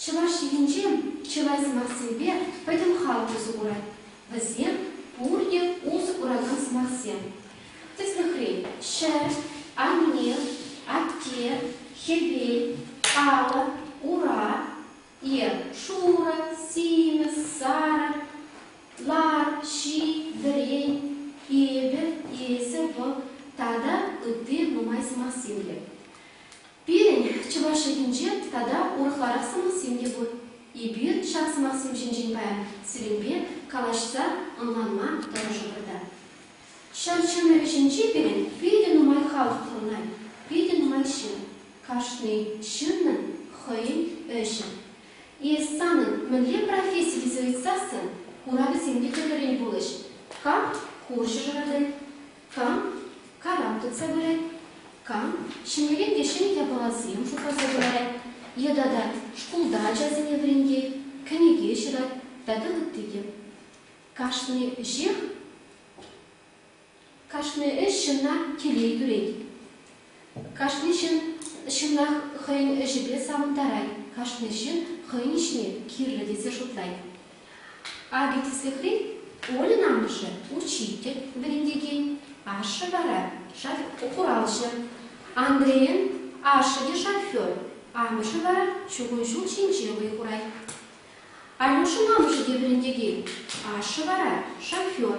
Чӑваш йӑхӗнче чылай сӑмахсемпе пӗтӗм халӑх усӑ курать. Вӗсем пурте усӑ куракан сӑмахсем. Тӗслӗхрен, ҫӗр, анне, атте, хӗвел, алӑ, ура, е шурӑ, симӗс, сарӑ, лар, ҫи, вӗрен, эпӗ, эсӗ, вӑл тата ытти нумай сӑмахсем те. Пирӗн, чӑваш чӗлхинче тата урӑхларах сӑмахсем те пур. Эпир ҫак сӑмахсем ҫинчен паян сирӗнпе калаҫса ӑнланма тӑрӑшӑпӑр та. Ҫав чӑн ӗҫӗнче пирӗн питӗ нумай халӑх пурӑнать, питӗ нумай ҫын. Кашни ҫыннӑн хӑйӗн ӗҫӗ. Эс санӑн мӗнле професси тесе ыйтсассӑн, хуравӗсем те тӗрлӗрен пулӗҫ. Кам хурҫӑ шӑратать, Кам карап тытса пырать, кам ҫӗмӗрен те ҫӗнӗ япаласем шутласа кӑларать, йыта та шкулта ачасене вӗрентет, кӗнеке ҫырать тата ытти те. Кашни ӗҫех, кашни ӗҫ ҫынна телей кӳрет. Кашни ҫын ҫынах хӑйӗн ӗҫӗпе савӑнтарать, кашни ҫын хӑйӗн ӗҫне кирлӗ тесе шутлать. Акӑ тӗслӗхре Ольӑн амӑшӗ учитель, вӗрентекен, ашшӗ вара хуралҫӑ. Андрейӑн ашшӗ те шофер, амӑшӗ вара чукун ҫул ҫинче вӑй хурать. Алюшӑн амӑшӗ те вӗрентекен, ашшӗ вара шофер.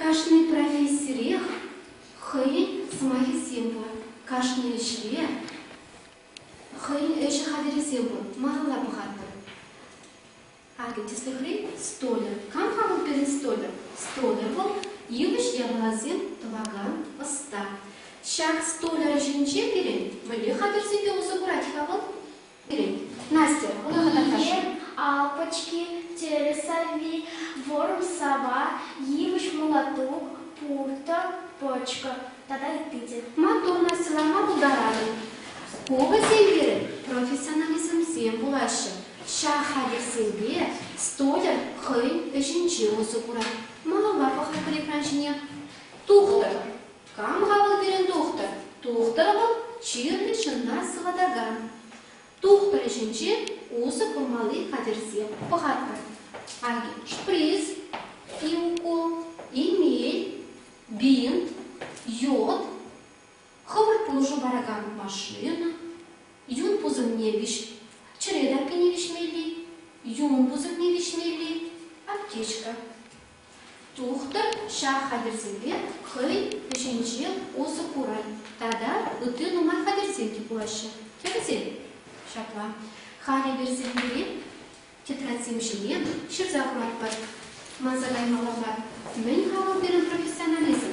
Кашни профессирех хӑйӗн сӑмахӗсем пур, кашни ӗҫре хӑйӗн ӗҫӗ хатӗрӗсем пур. Малалла пӑхатпӑр. Акӑ, тӗслӗхрен, столер. Кам-ха вӑл пирӗн столер? Столер вӑл йывӑҫ япаласем тӑвакан ӑста. Ҫак столер ӗҫӗнче пирӗн мӗнле хатӗрсемпе усӑ курать-ха вӑл? Настя, Благодарен dir алпочки, телесальви, ворм сова, йывӑҫ мулатук, пуртӑ, почка тата ытти те. Маттур, Настьӑлама пултаратӑн. Ку вӗсем пирӗн профессионализмсем пулаҫҫӗ. Ҫак хатӗрсемпе студент хӑйӗн ӗҫӗнче усӑ курать. Малалла пӑхатпӑр экран ҫине. Тухтӑр! Кам-ха вӑл пирӗн тухтӑр? Тухтӑр вӑл, чирлӗ ҫынна сыватакан. Тухтӑр ӗҫӗнче усӑ курмалли хатӗрсем пӑхатпӑр. Аки, шприц, иукол, имей, бинт, йод, хӑвӑрт пулӑшу паракан машина, юн пусӑмне виҫ, чӗре таппине виҫмелли, юн пусӑмне виҫмелли, аптечка. Тухтӑр ҫак хатӗрсемпе хӑй ӗҫӗнче усӑ курать тата ытти нумай хатӗрсем те пулаҫҫӗ. Тӗрӗсем ҫапла. Хатӗрсем пире тетрадьсем ҫине ҫырса хӑватпӑр. Манса каймалла мар. Мӗн-ха вӑл пирӗн профессионализм?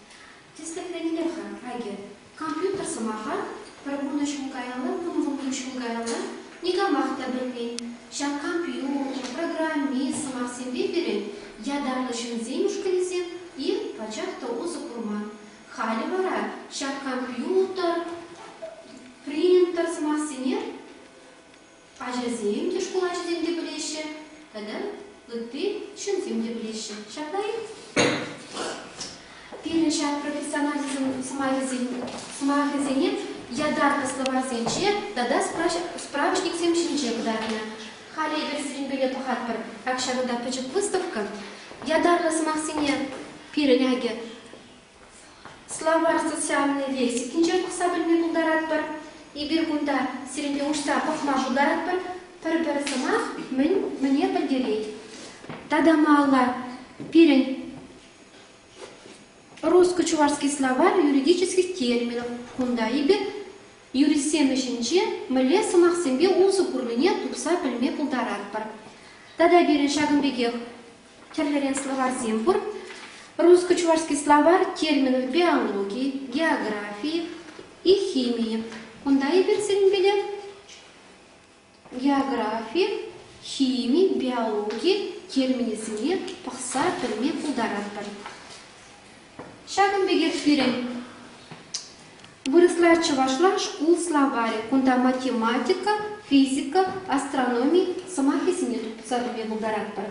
Тӗслӗхренпех-ха, акӑ, компьютер сӑмаха пӗр пурнӑҫ ҫул каялла, вунвунпилӗк ҫул каялла никамах та пӗлмен. Ҫак компьютер, программи, сӑмахсемпе пирӗн ятарлӑ ҫынсен ушкӑнӗсем-и пачах та усӑ курман. Халӗ вара ҫак компьютер, принтер сӑмахсене Ачасем те, шкул ачисем те пӗлеҫҫӗ тата ытти ҫынсем те пӗлеҫҫӗ. Ҫапла-и? Пирӗн ҫар профессионалӗсен сӑмахӗсене ятарлӑ словарьсенче тата справочниксем ҫинче кӑтартнӑ. Халӗ эпир сирӗнпеле тухатпӑр ак ҫакӑнта пӗчӗк выставка. Ятарлӑ сӑмахсене пирӗн акӗ Словарь социальнӑй лексикинчен пӑхса пӗлме пултаратпӑр. Эпир кунта сирӗнпе уҫса пӑхма шутаратпӑр. Пӗр-пӗр сӑмах мӗн мӗне пӗлтерет. Тата малалла пирӗн русско-чувашский словарь юридических терминов. Кунта эпир юристсем ӗҫӗнче мӗнле сӑмахсемпе усӑ курнине тупса пӗлме пултаратпӑр. Тата пирӗн ҫакӑн пекех Тӗрлӗрен словарьсем пур. Русско-чувашский словарь терминӗпе аналоги, географи и химии. Кунта эпир сирӗнпеле географи, хими, биологи терминӗсене пӑхса пӗлме пултаратпӑр. Ҫакӑн пекех пирӗн вырӑсла чӑвашла шкул словарӗ. Кунта математика, физика, астрономи сӑмахӗсене тупса пӗлме пултаратпӑр.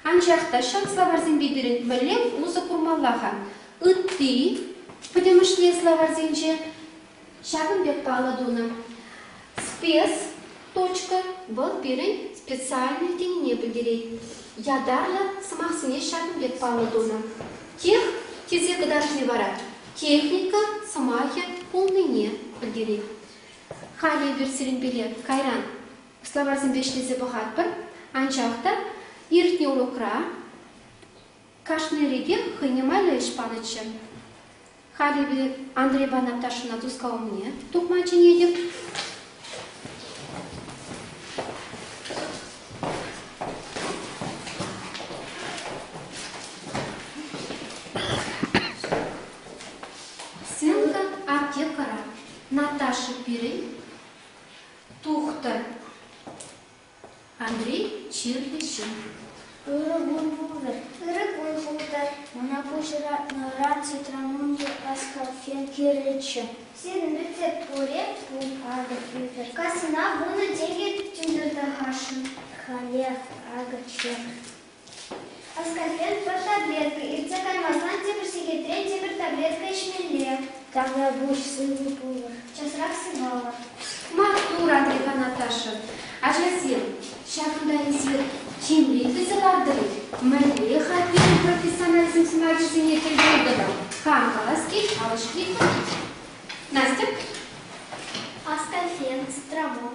Анчах та ҫак словарьсемпе пирӗн мӗнле усӑ курмалла-ха? Ытти пӗтӗмӗшле словарьсенче Ҫакӑн пек паллӑ тунӑ спец.точка вӑл пирӗн специальнӑй тенине пӗлтерет. Ятарлӑ сӑмахсене ҫакӑн пек паллӑ тунӑ. Тех тесе кӑтартни вара техника сӑмахӗ пулнине пӗлтерет. Халӗ эпир сирӗнпеле кайран словарьсемпе ӗҫлесе пӑхатпӑр, анчах та иртнӗ урокра Кашни рекех хӑйне майлӑ ӗҫ панӑччӗ. Халь эпир Андрейпа Наташӑна тускав умне тухма чӗнетӗп. Сенка аптекӑра. Наташа пирӗн тухтӑр. Андрей чирлӗ ҫын. Ырӑ кун пултӑр, ырӑ кун пултӑр. Мана пуҫӑратнӑран цитрамунти аскалфен кирлӗччӗ. Сирӗнпе тӗл пуре пулатӑп. Кассӑна вунӑ тенкӗ тӳнтертармашӑн халех акӑ чек. Аскорбин пӗр таблетка, иртсе каймасан тепӗр сехетрен тепӗр таблетка ӗҫмелле. Тавра пуҫ сывӑ пулӑр, часрах сывалӑр. Маттур, Андрейпа Наташа. Ачасем, ҫакӑнта эсир тимлӗ илтӗнсе лартӑр-и? Мӗнле-ха пирӗн профессионализм сӑмахӗсене тӗлне тӑтӑм? Хам калас-ки, калаҫ-ки пулать. Настя? Аскорбин, стравон,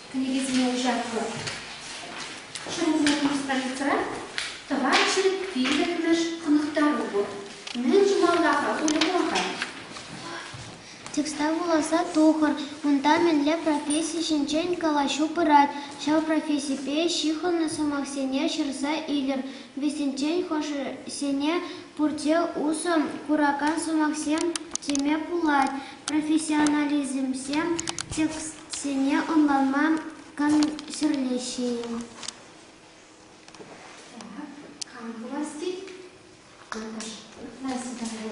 Кӗнекесене уҫатпӑр. Ҫырусене пур страницӑра тӑван ҫӗр пиллӗкмӗш хӑнӑхтару пур. Мӗн тумалла-ха пулӗ кун-ха? Текста вуласа тухӑр. Унта мӗнле професси ҫинчен калаҫу пырать, ҫав профессипе ҫыхӑннӑ сӑмахсене ҫырса илӗр. Вӗсенчен хӑшӗсене пурте усӑ куракан сӑмахсем теме пулать. Профессионализмсем текст Сине ӑнланма кам ҫӗрлеҫҫӗ-и? Кам пуласси? Наташа,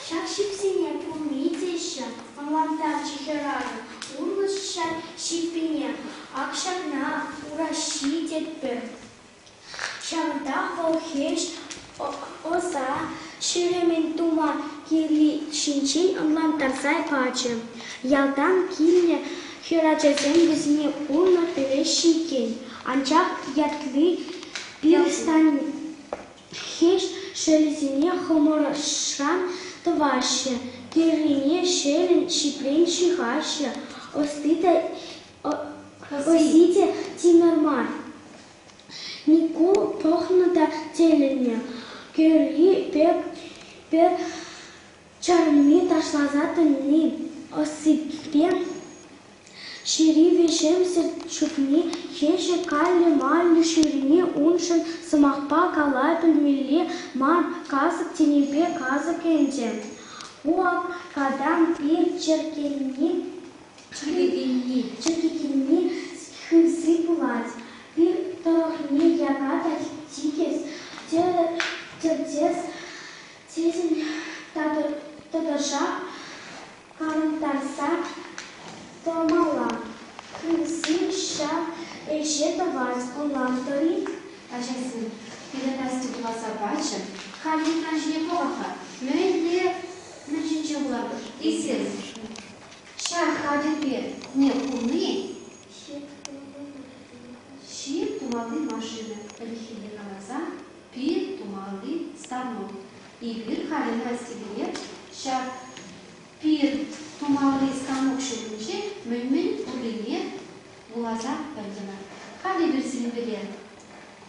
ҫак ҫипсене пурне теҫҫӗ, ӑнлантарчӗ хӗрарӑм. Улӑштҫа ҫиппине ак ҫакна ураҫҫи тетпӗр. Ҫантах вӑл хирӗҫ ӑса ҫеремӗн тума килни ҫинчен ӑнлантарса пачӗ. Ялтан килнӗ хӗрачасем вӗсене пулнӑ пӗлеҫҫӗ иккен, анчах ятли пирстанхеҫ шӑлӗсене хӑмӑршран тӑваҫҫӗ, тыррине шелӗн ҫипрен ҫыхаҫҫӗ, ӑсти та Вӑййи те тимӗр мар. Микул пӑхнӑ та тӗлӗннӗ. Кӗрри пек чарми ташласа тӑни ӑссипе ҫери веҫемсӗр чупни хӗҫӗ каллӗ-маллӗ ҫӳрени уншӑн сӑмахпа кала пӗлмелле мар касӑк тенипе касӑк ӗнтӗ. Ку аптекӑран ир чӗркенни Чӗрекенни, чӗрекенни хывси пулать, пир тӑрӑхне яка та тикӗс, тӗртес тесен тӑтӑшах калӑнтарса тӑмалла. Хывси ҫав ӗҫе тӑвать, ӑнлантӑр-и, ачасем? Передача вуласа пачӗ. Халь юлташ-и пулӑха? Мӗнле мунчинче пулатӑр эсир? Ҫак хатӗрпе не курни ҫип тумалли машина, пӗлӗххине каласан, пир тумалли станок. Эпир халӗ Настя пине ҫак пир тумалли станок ҫумӗнче мӗн-мӗн пуррине вуласа пӗлтӗмӗр. Халӗ эпир сирӗнпеле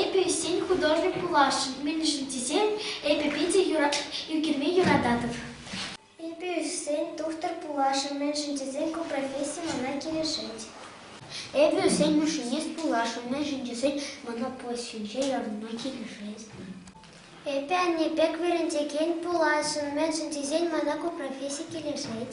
Эпӗ ӳссен художник пуласшӑн, мӗншӗн тесен эпӗ питӗ ӳкерме юрататӑп. Эпӗ ӳссен тухтӑр пуласшӑн, мӗншӗн тесен ку професси мана килӗшет. Эпӗ ӳссен машинист пуласшӑн, мӗншӗн тесен мана профессинче ярӑнма килӗшет. Эпӗ анне пек вӗрентекен пуласшӑн, мӗншӗн тесен мана ку професси килӗшет.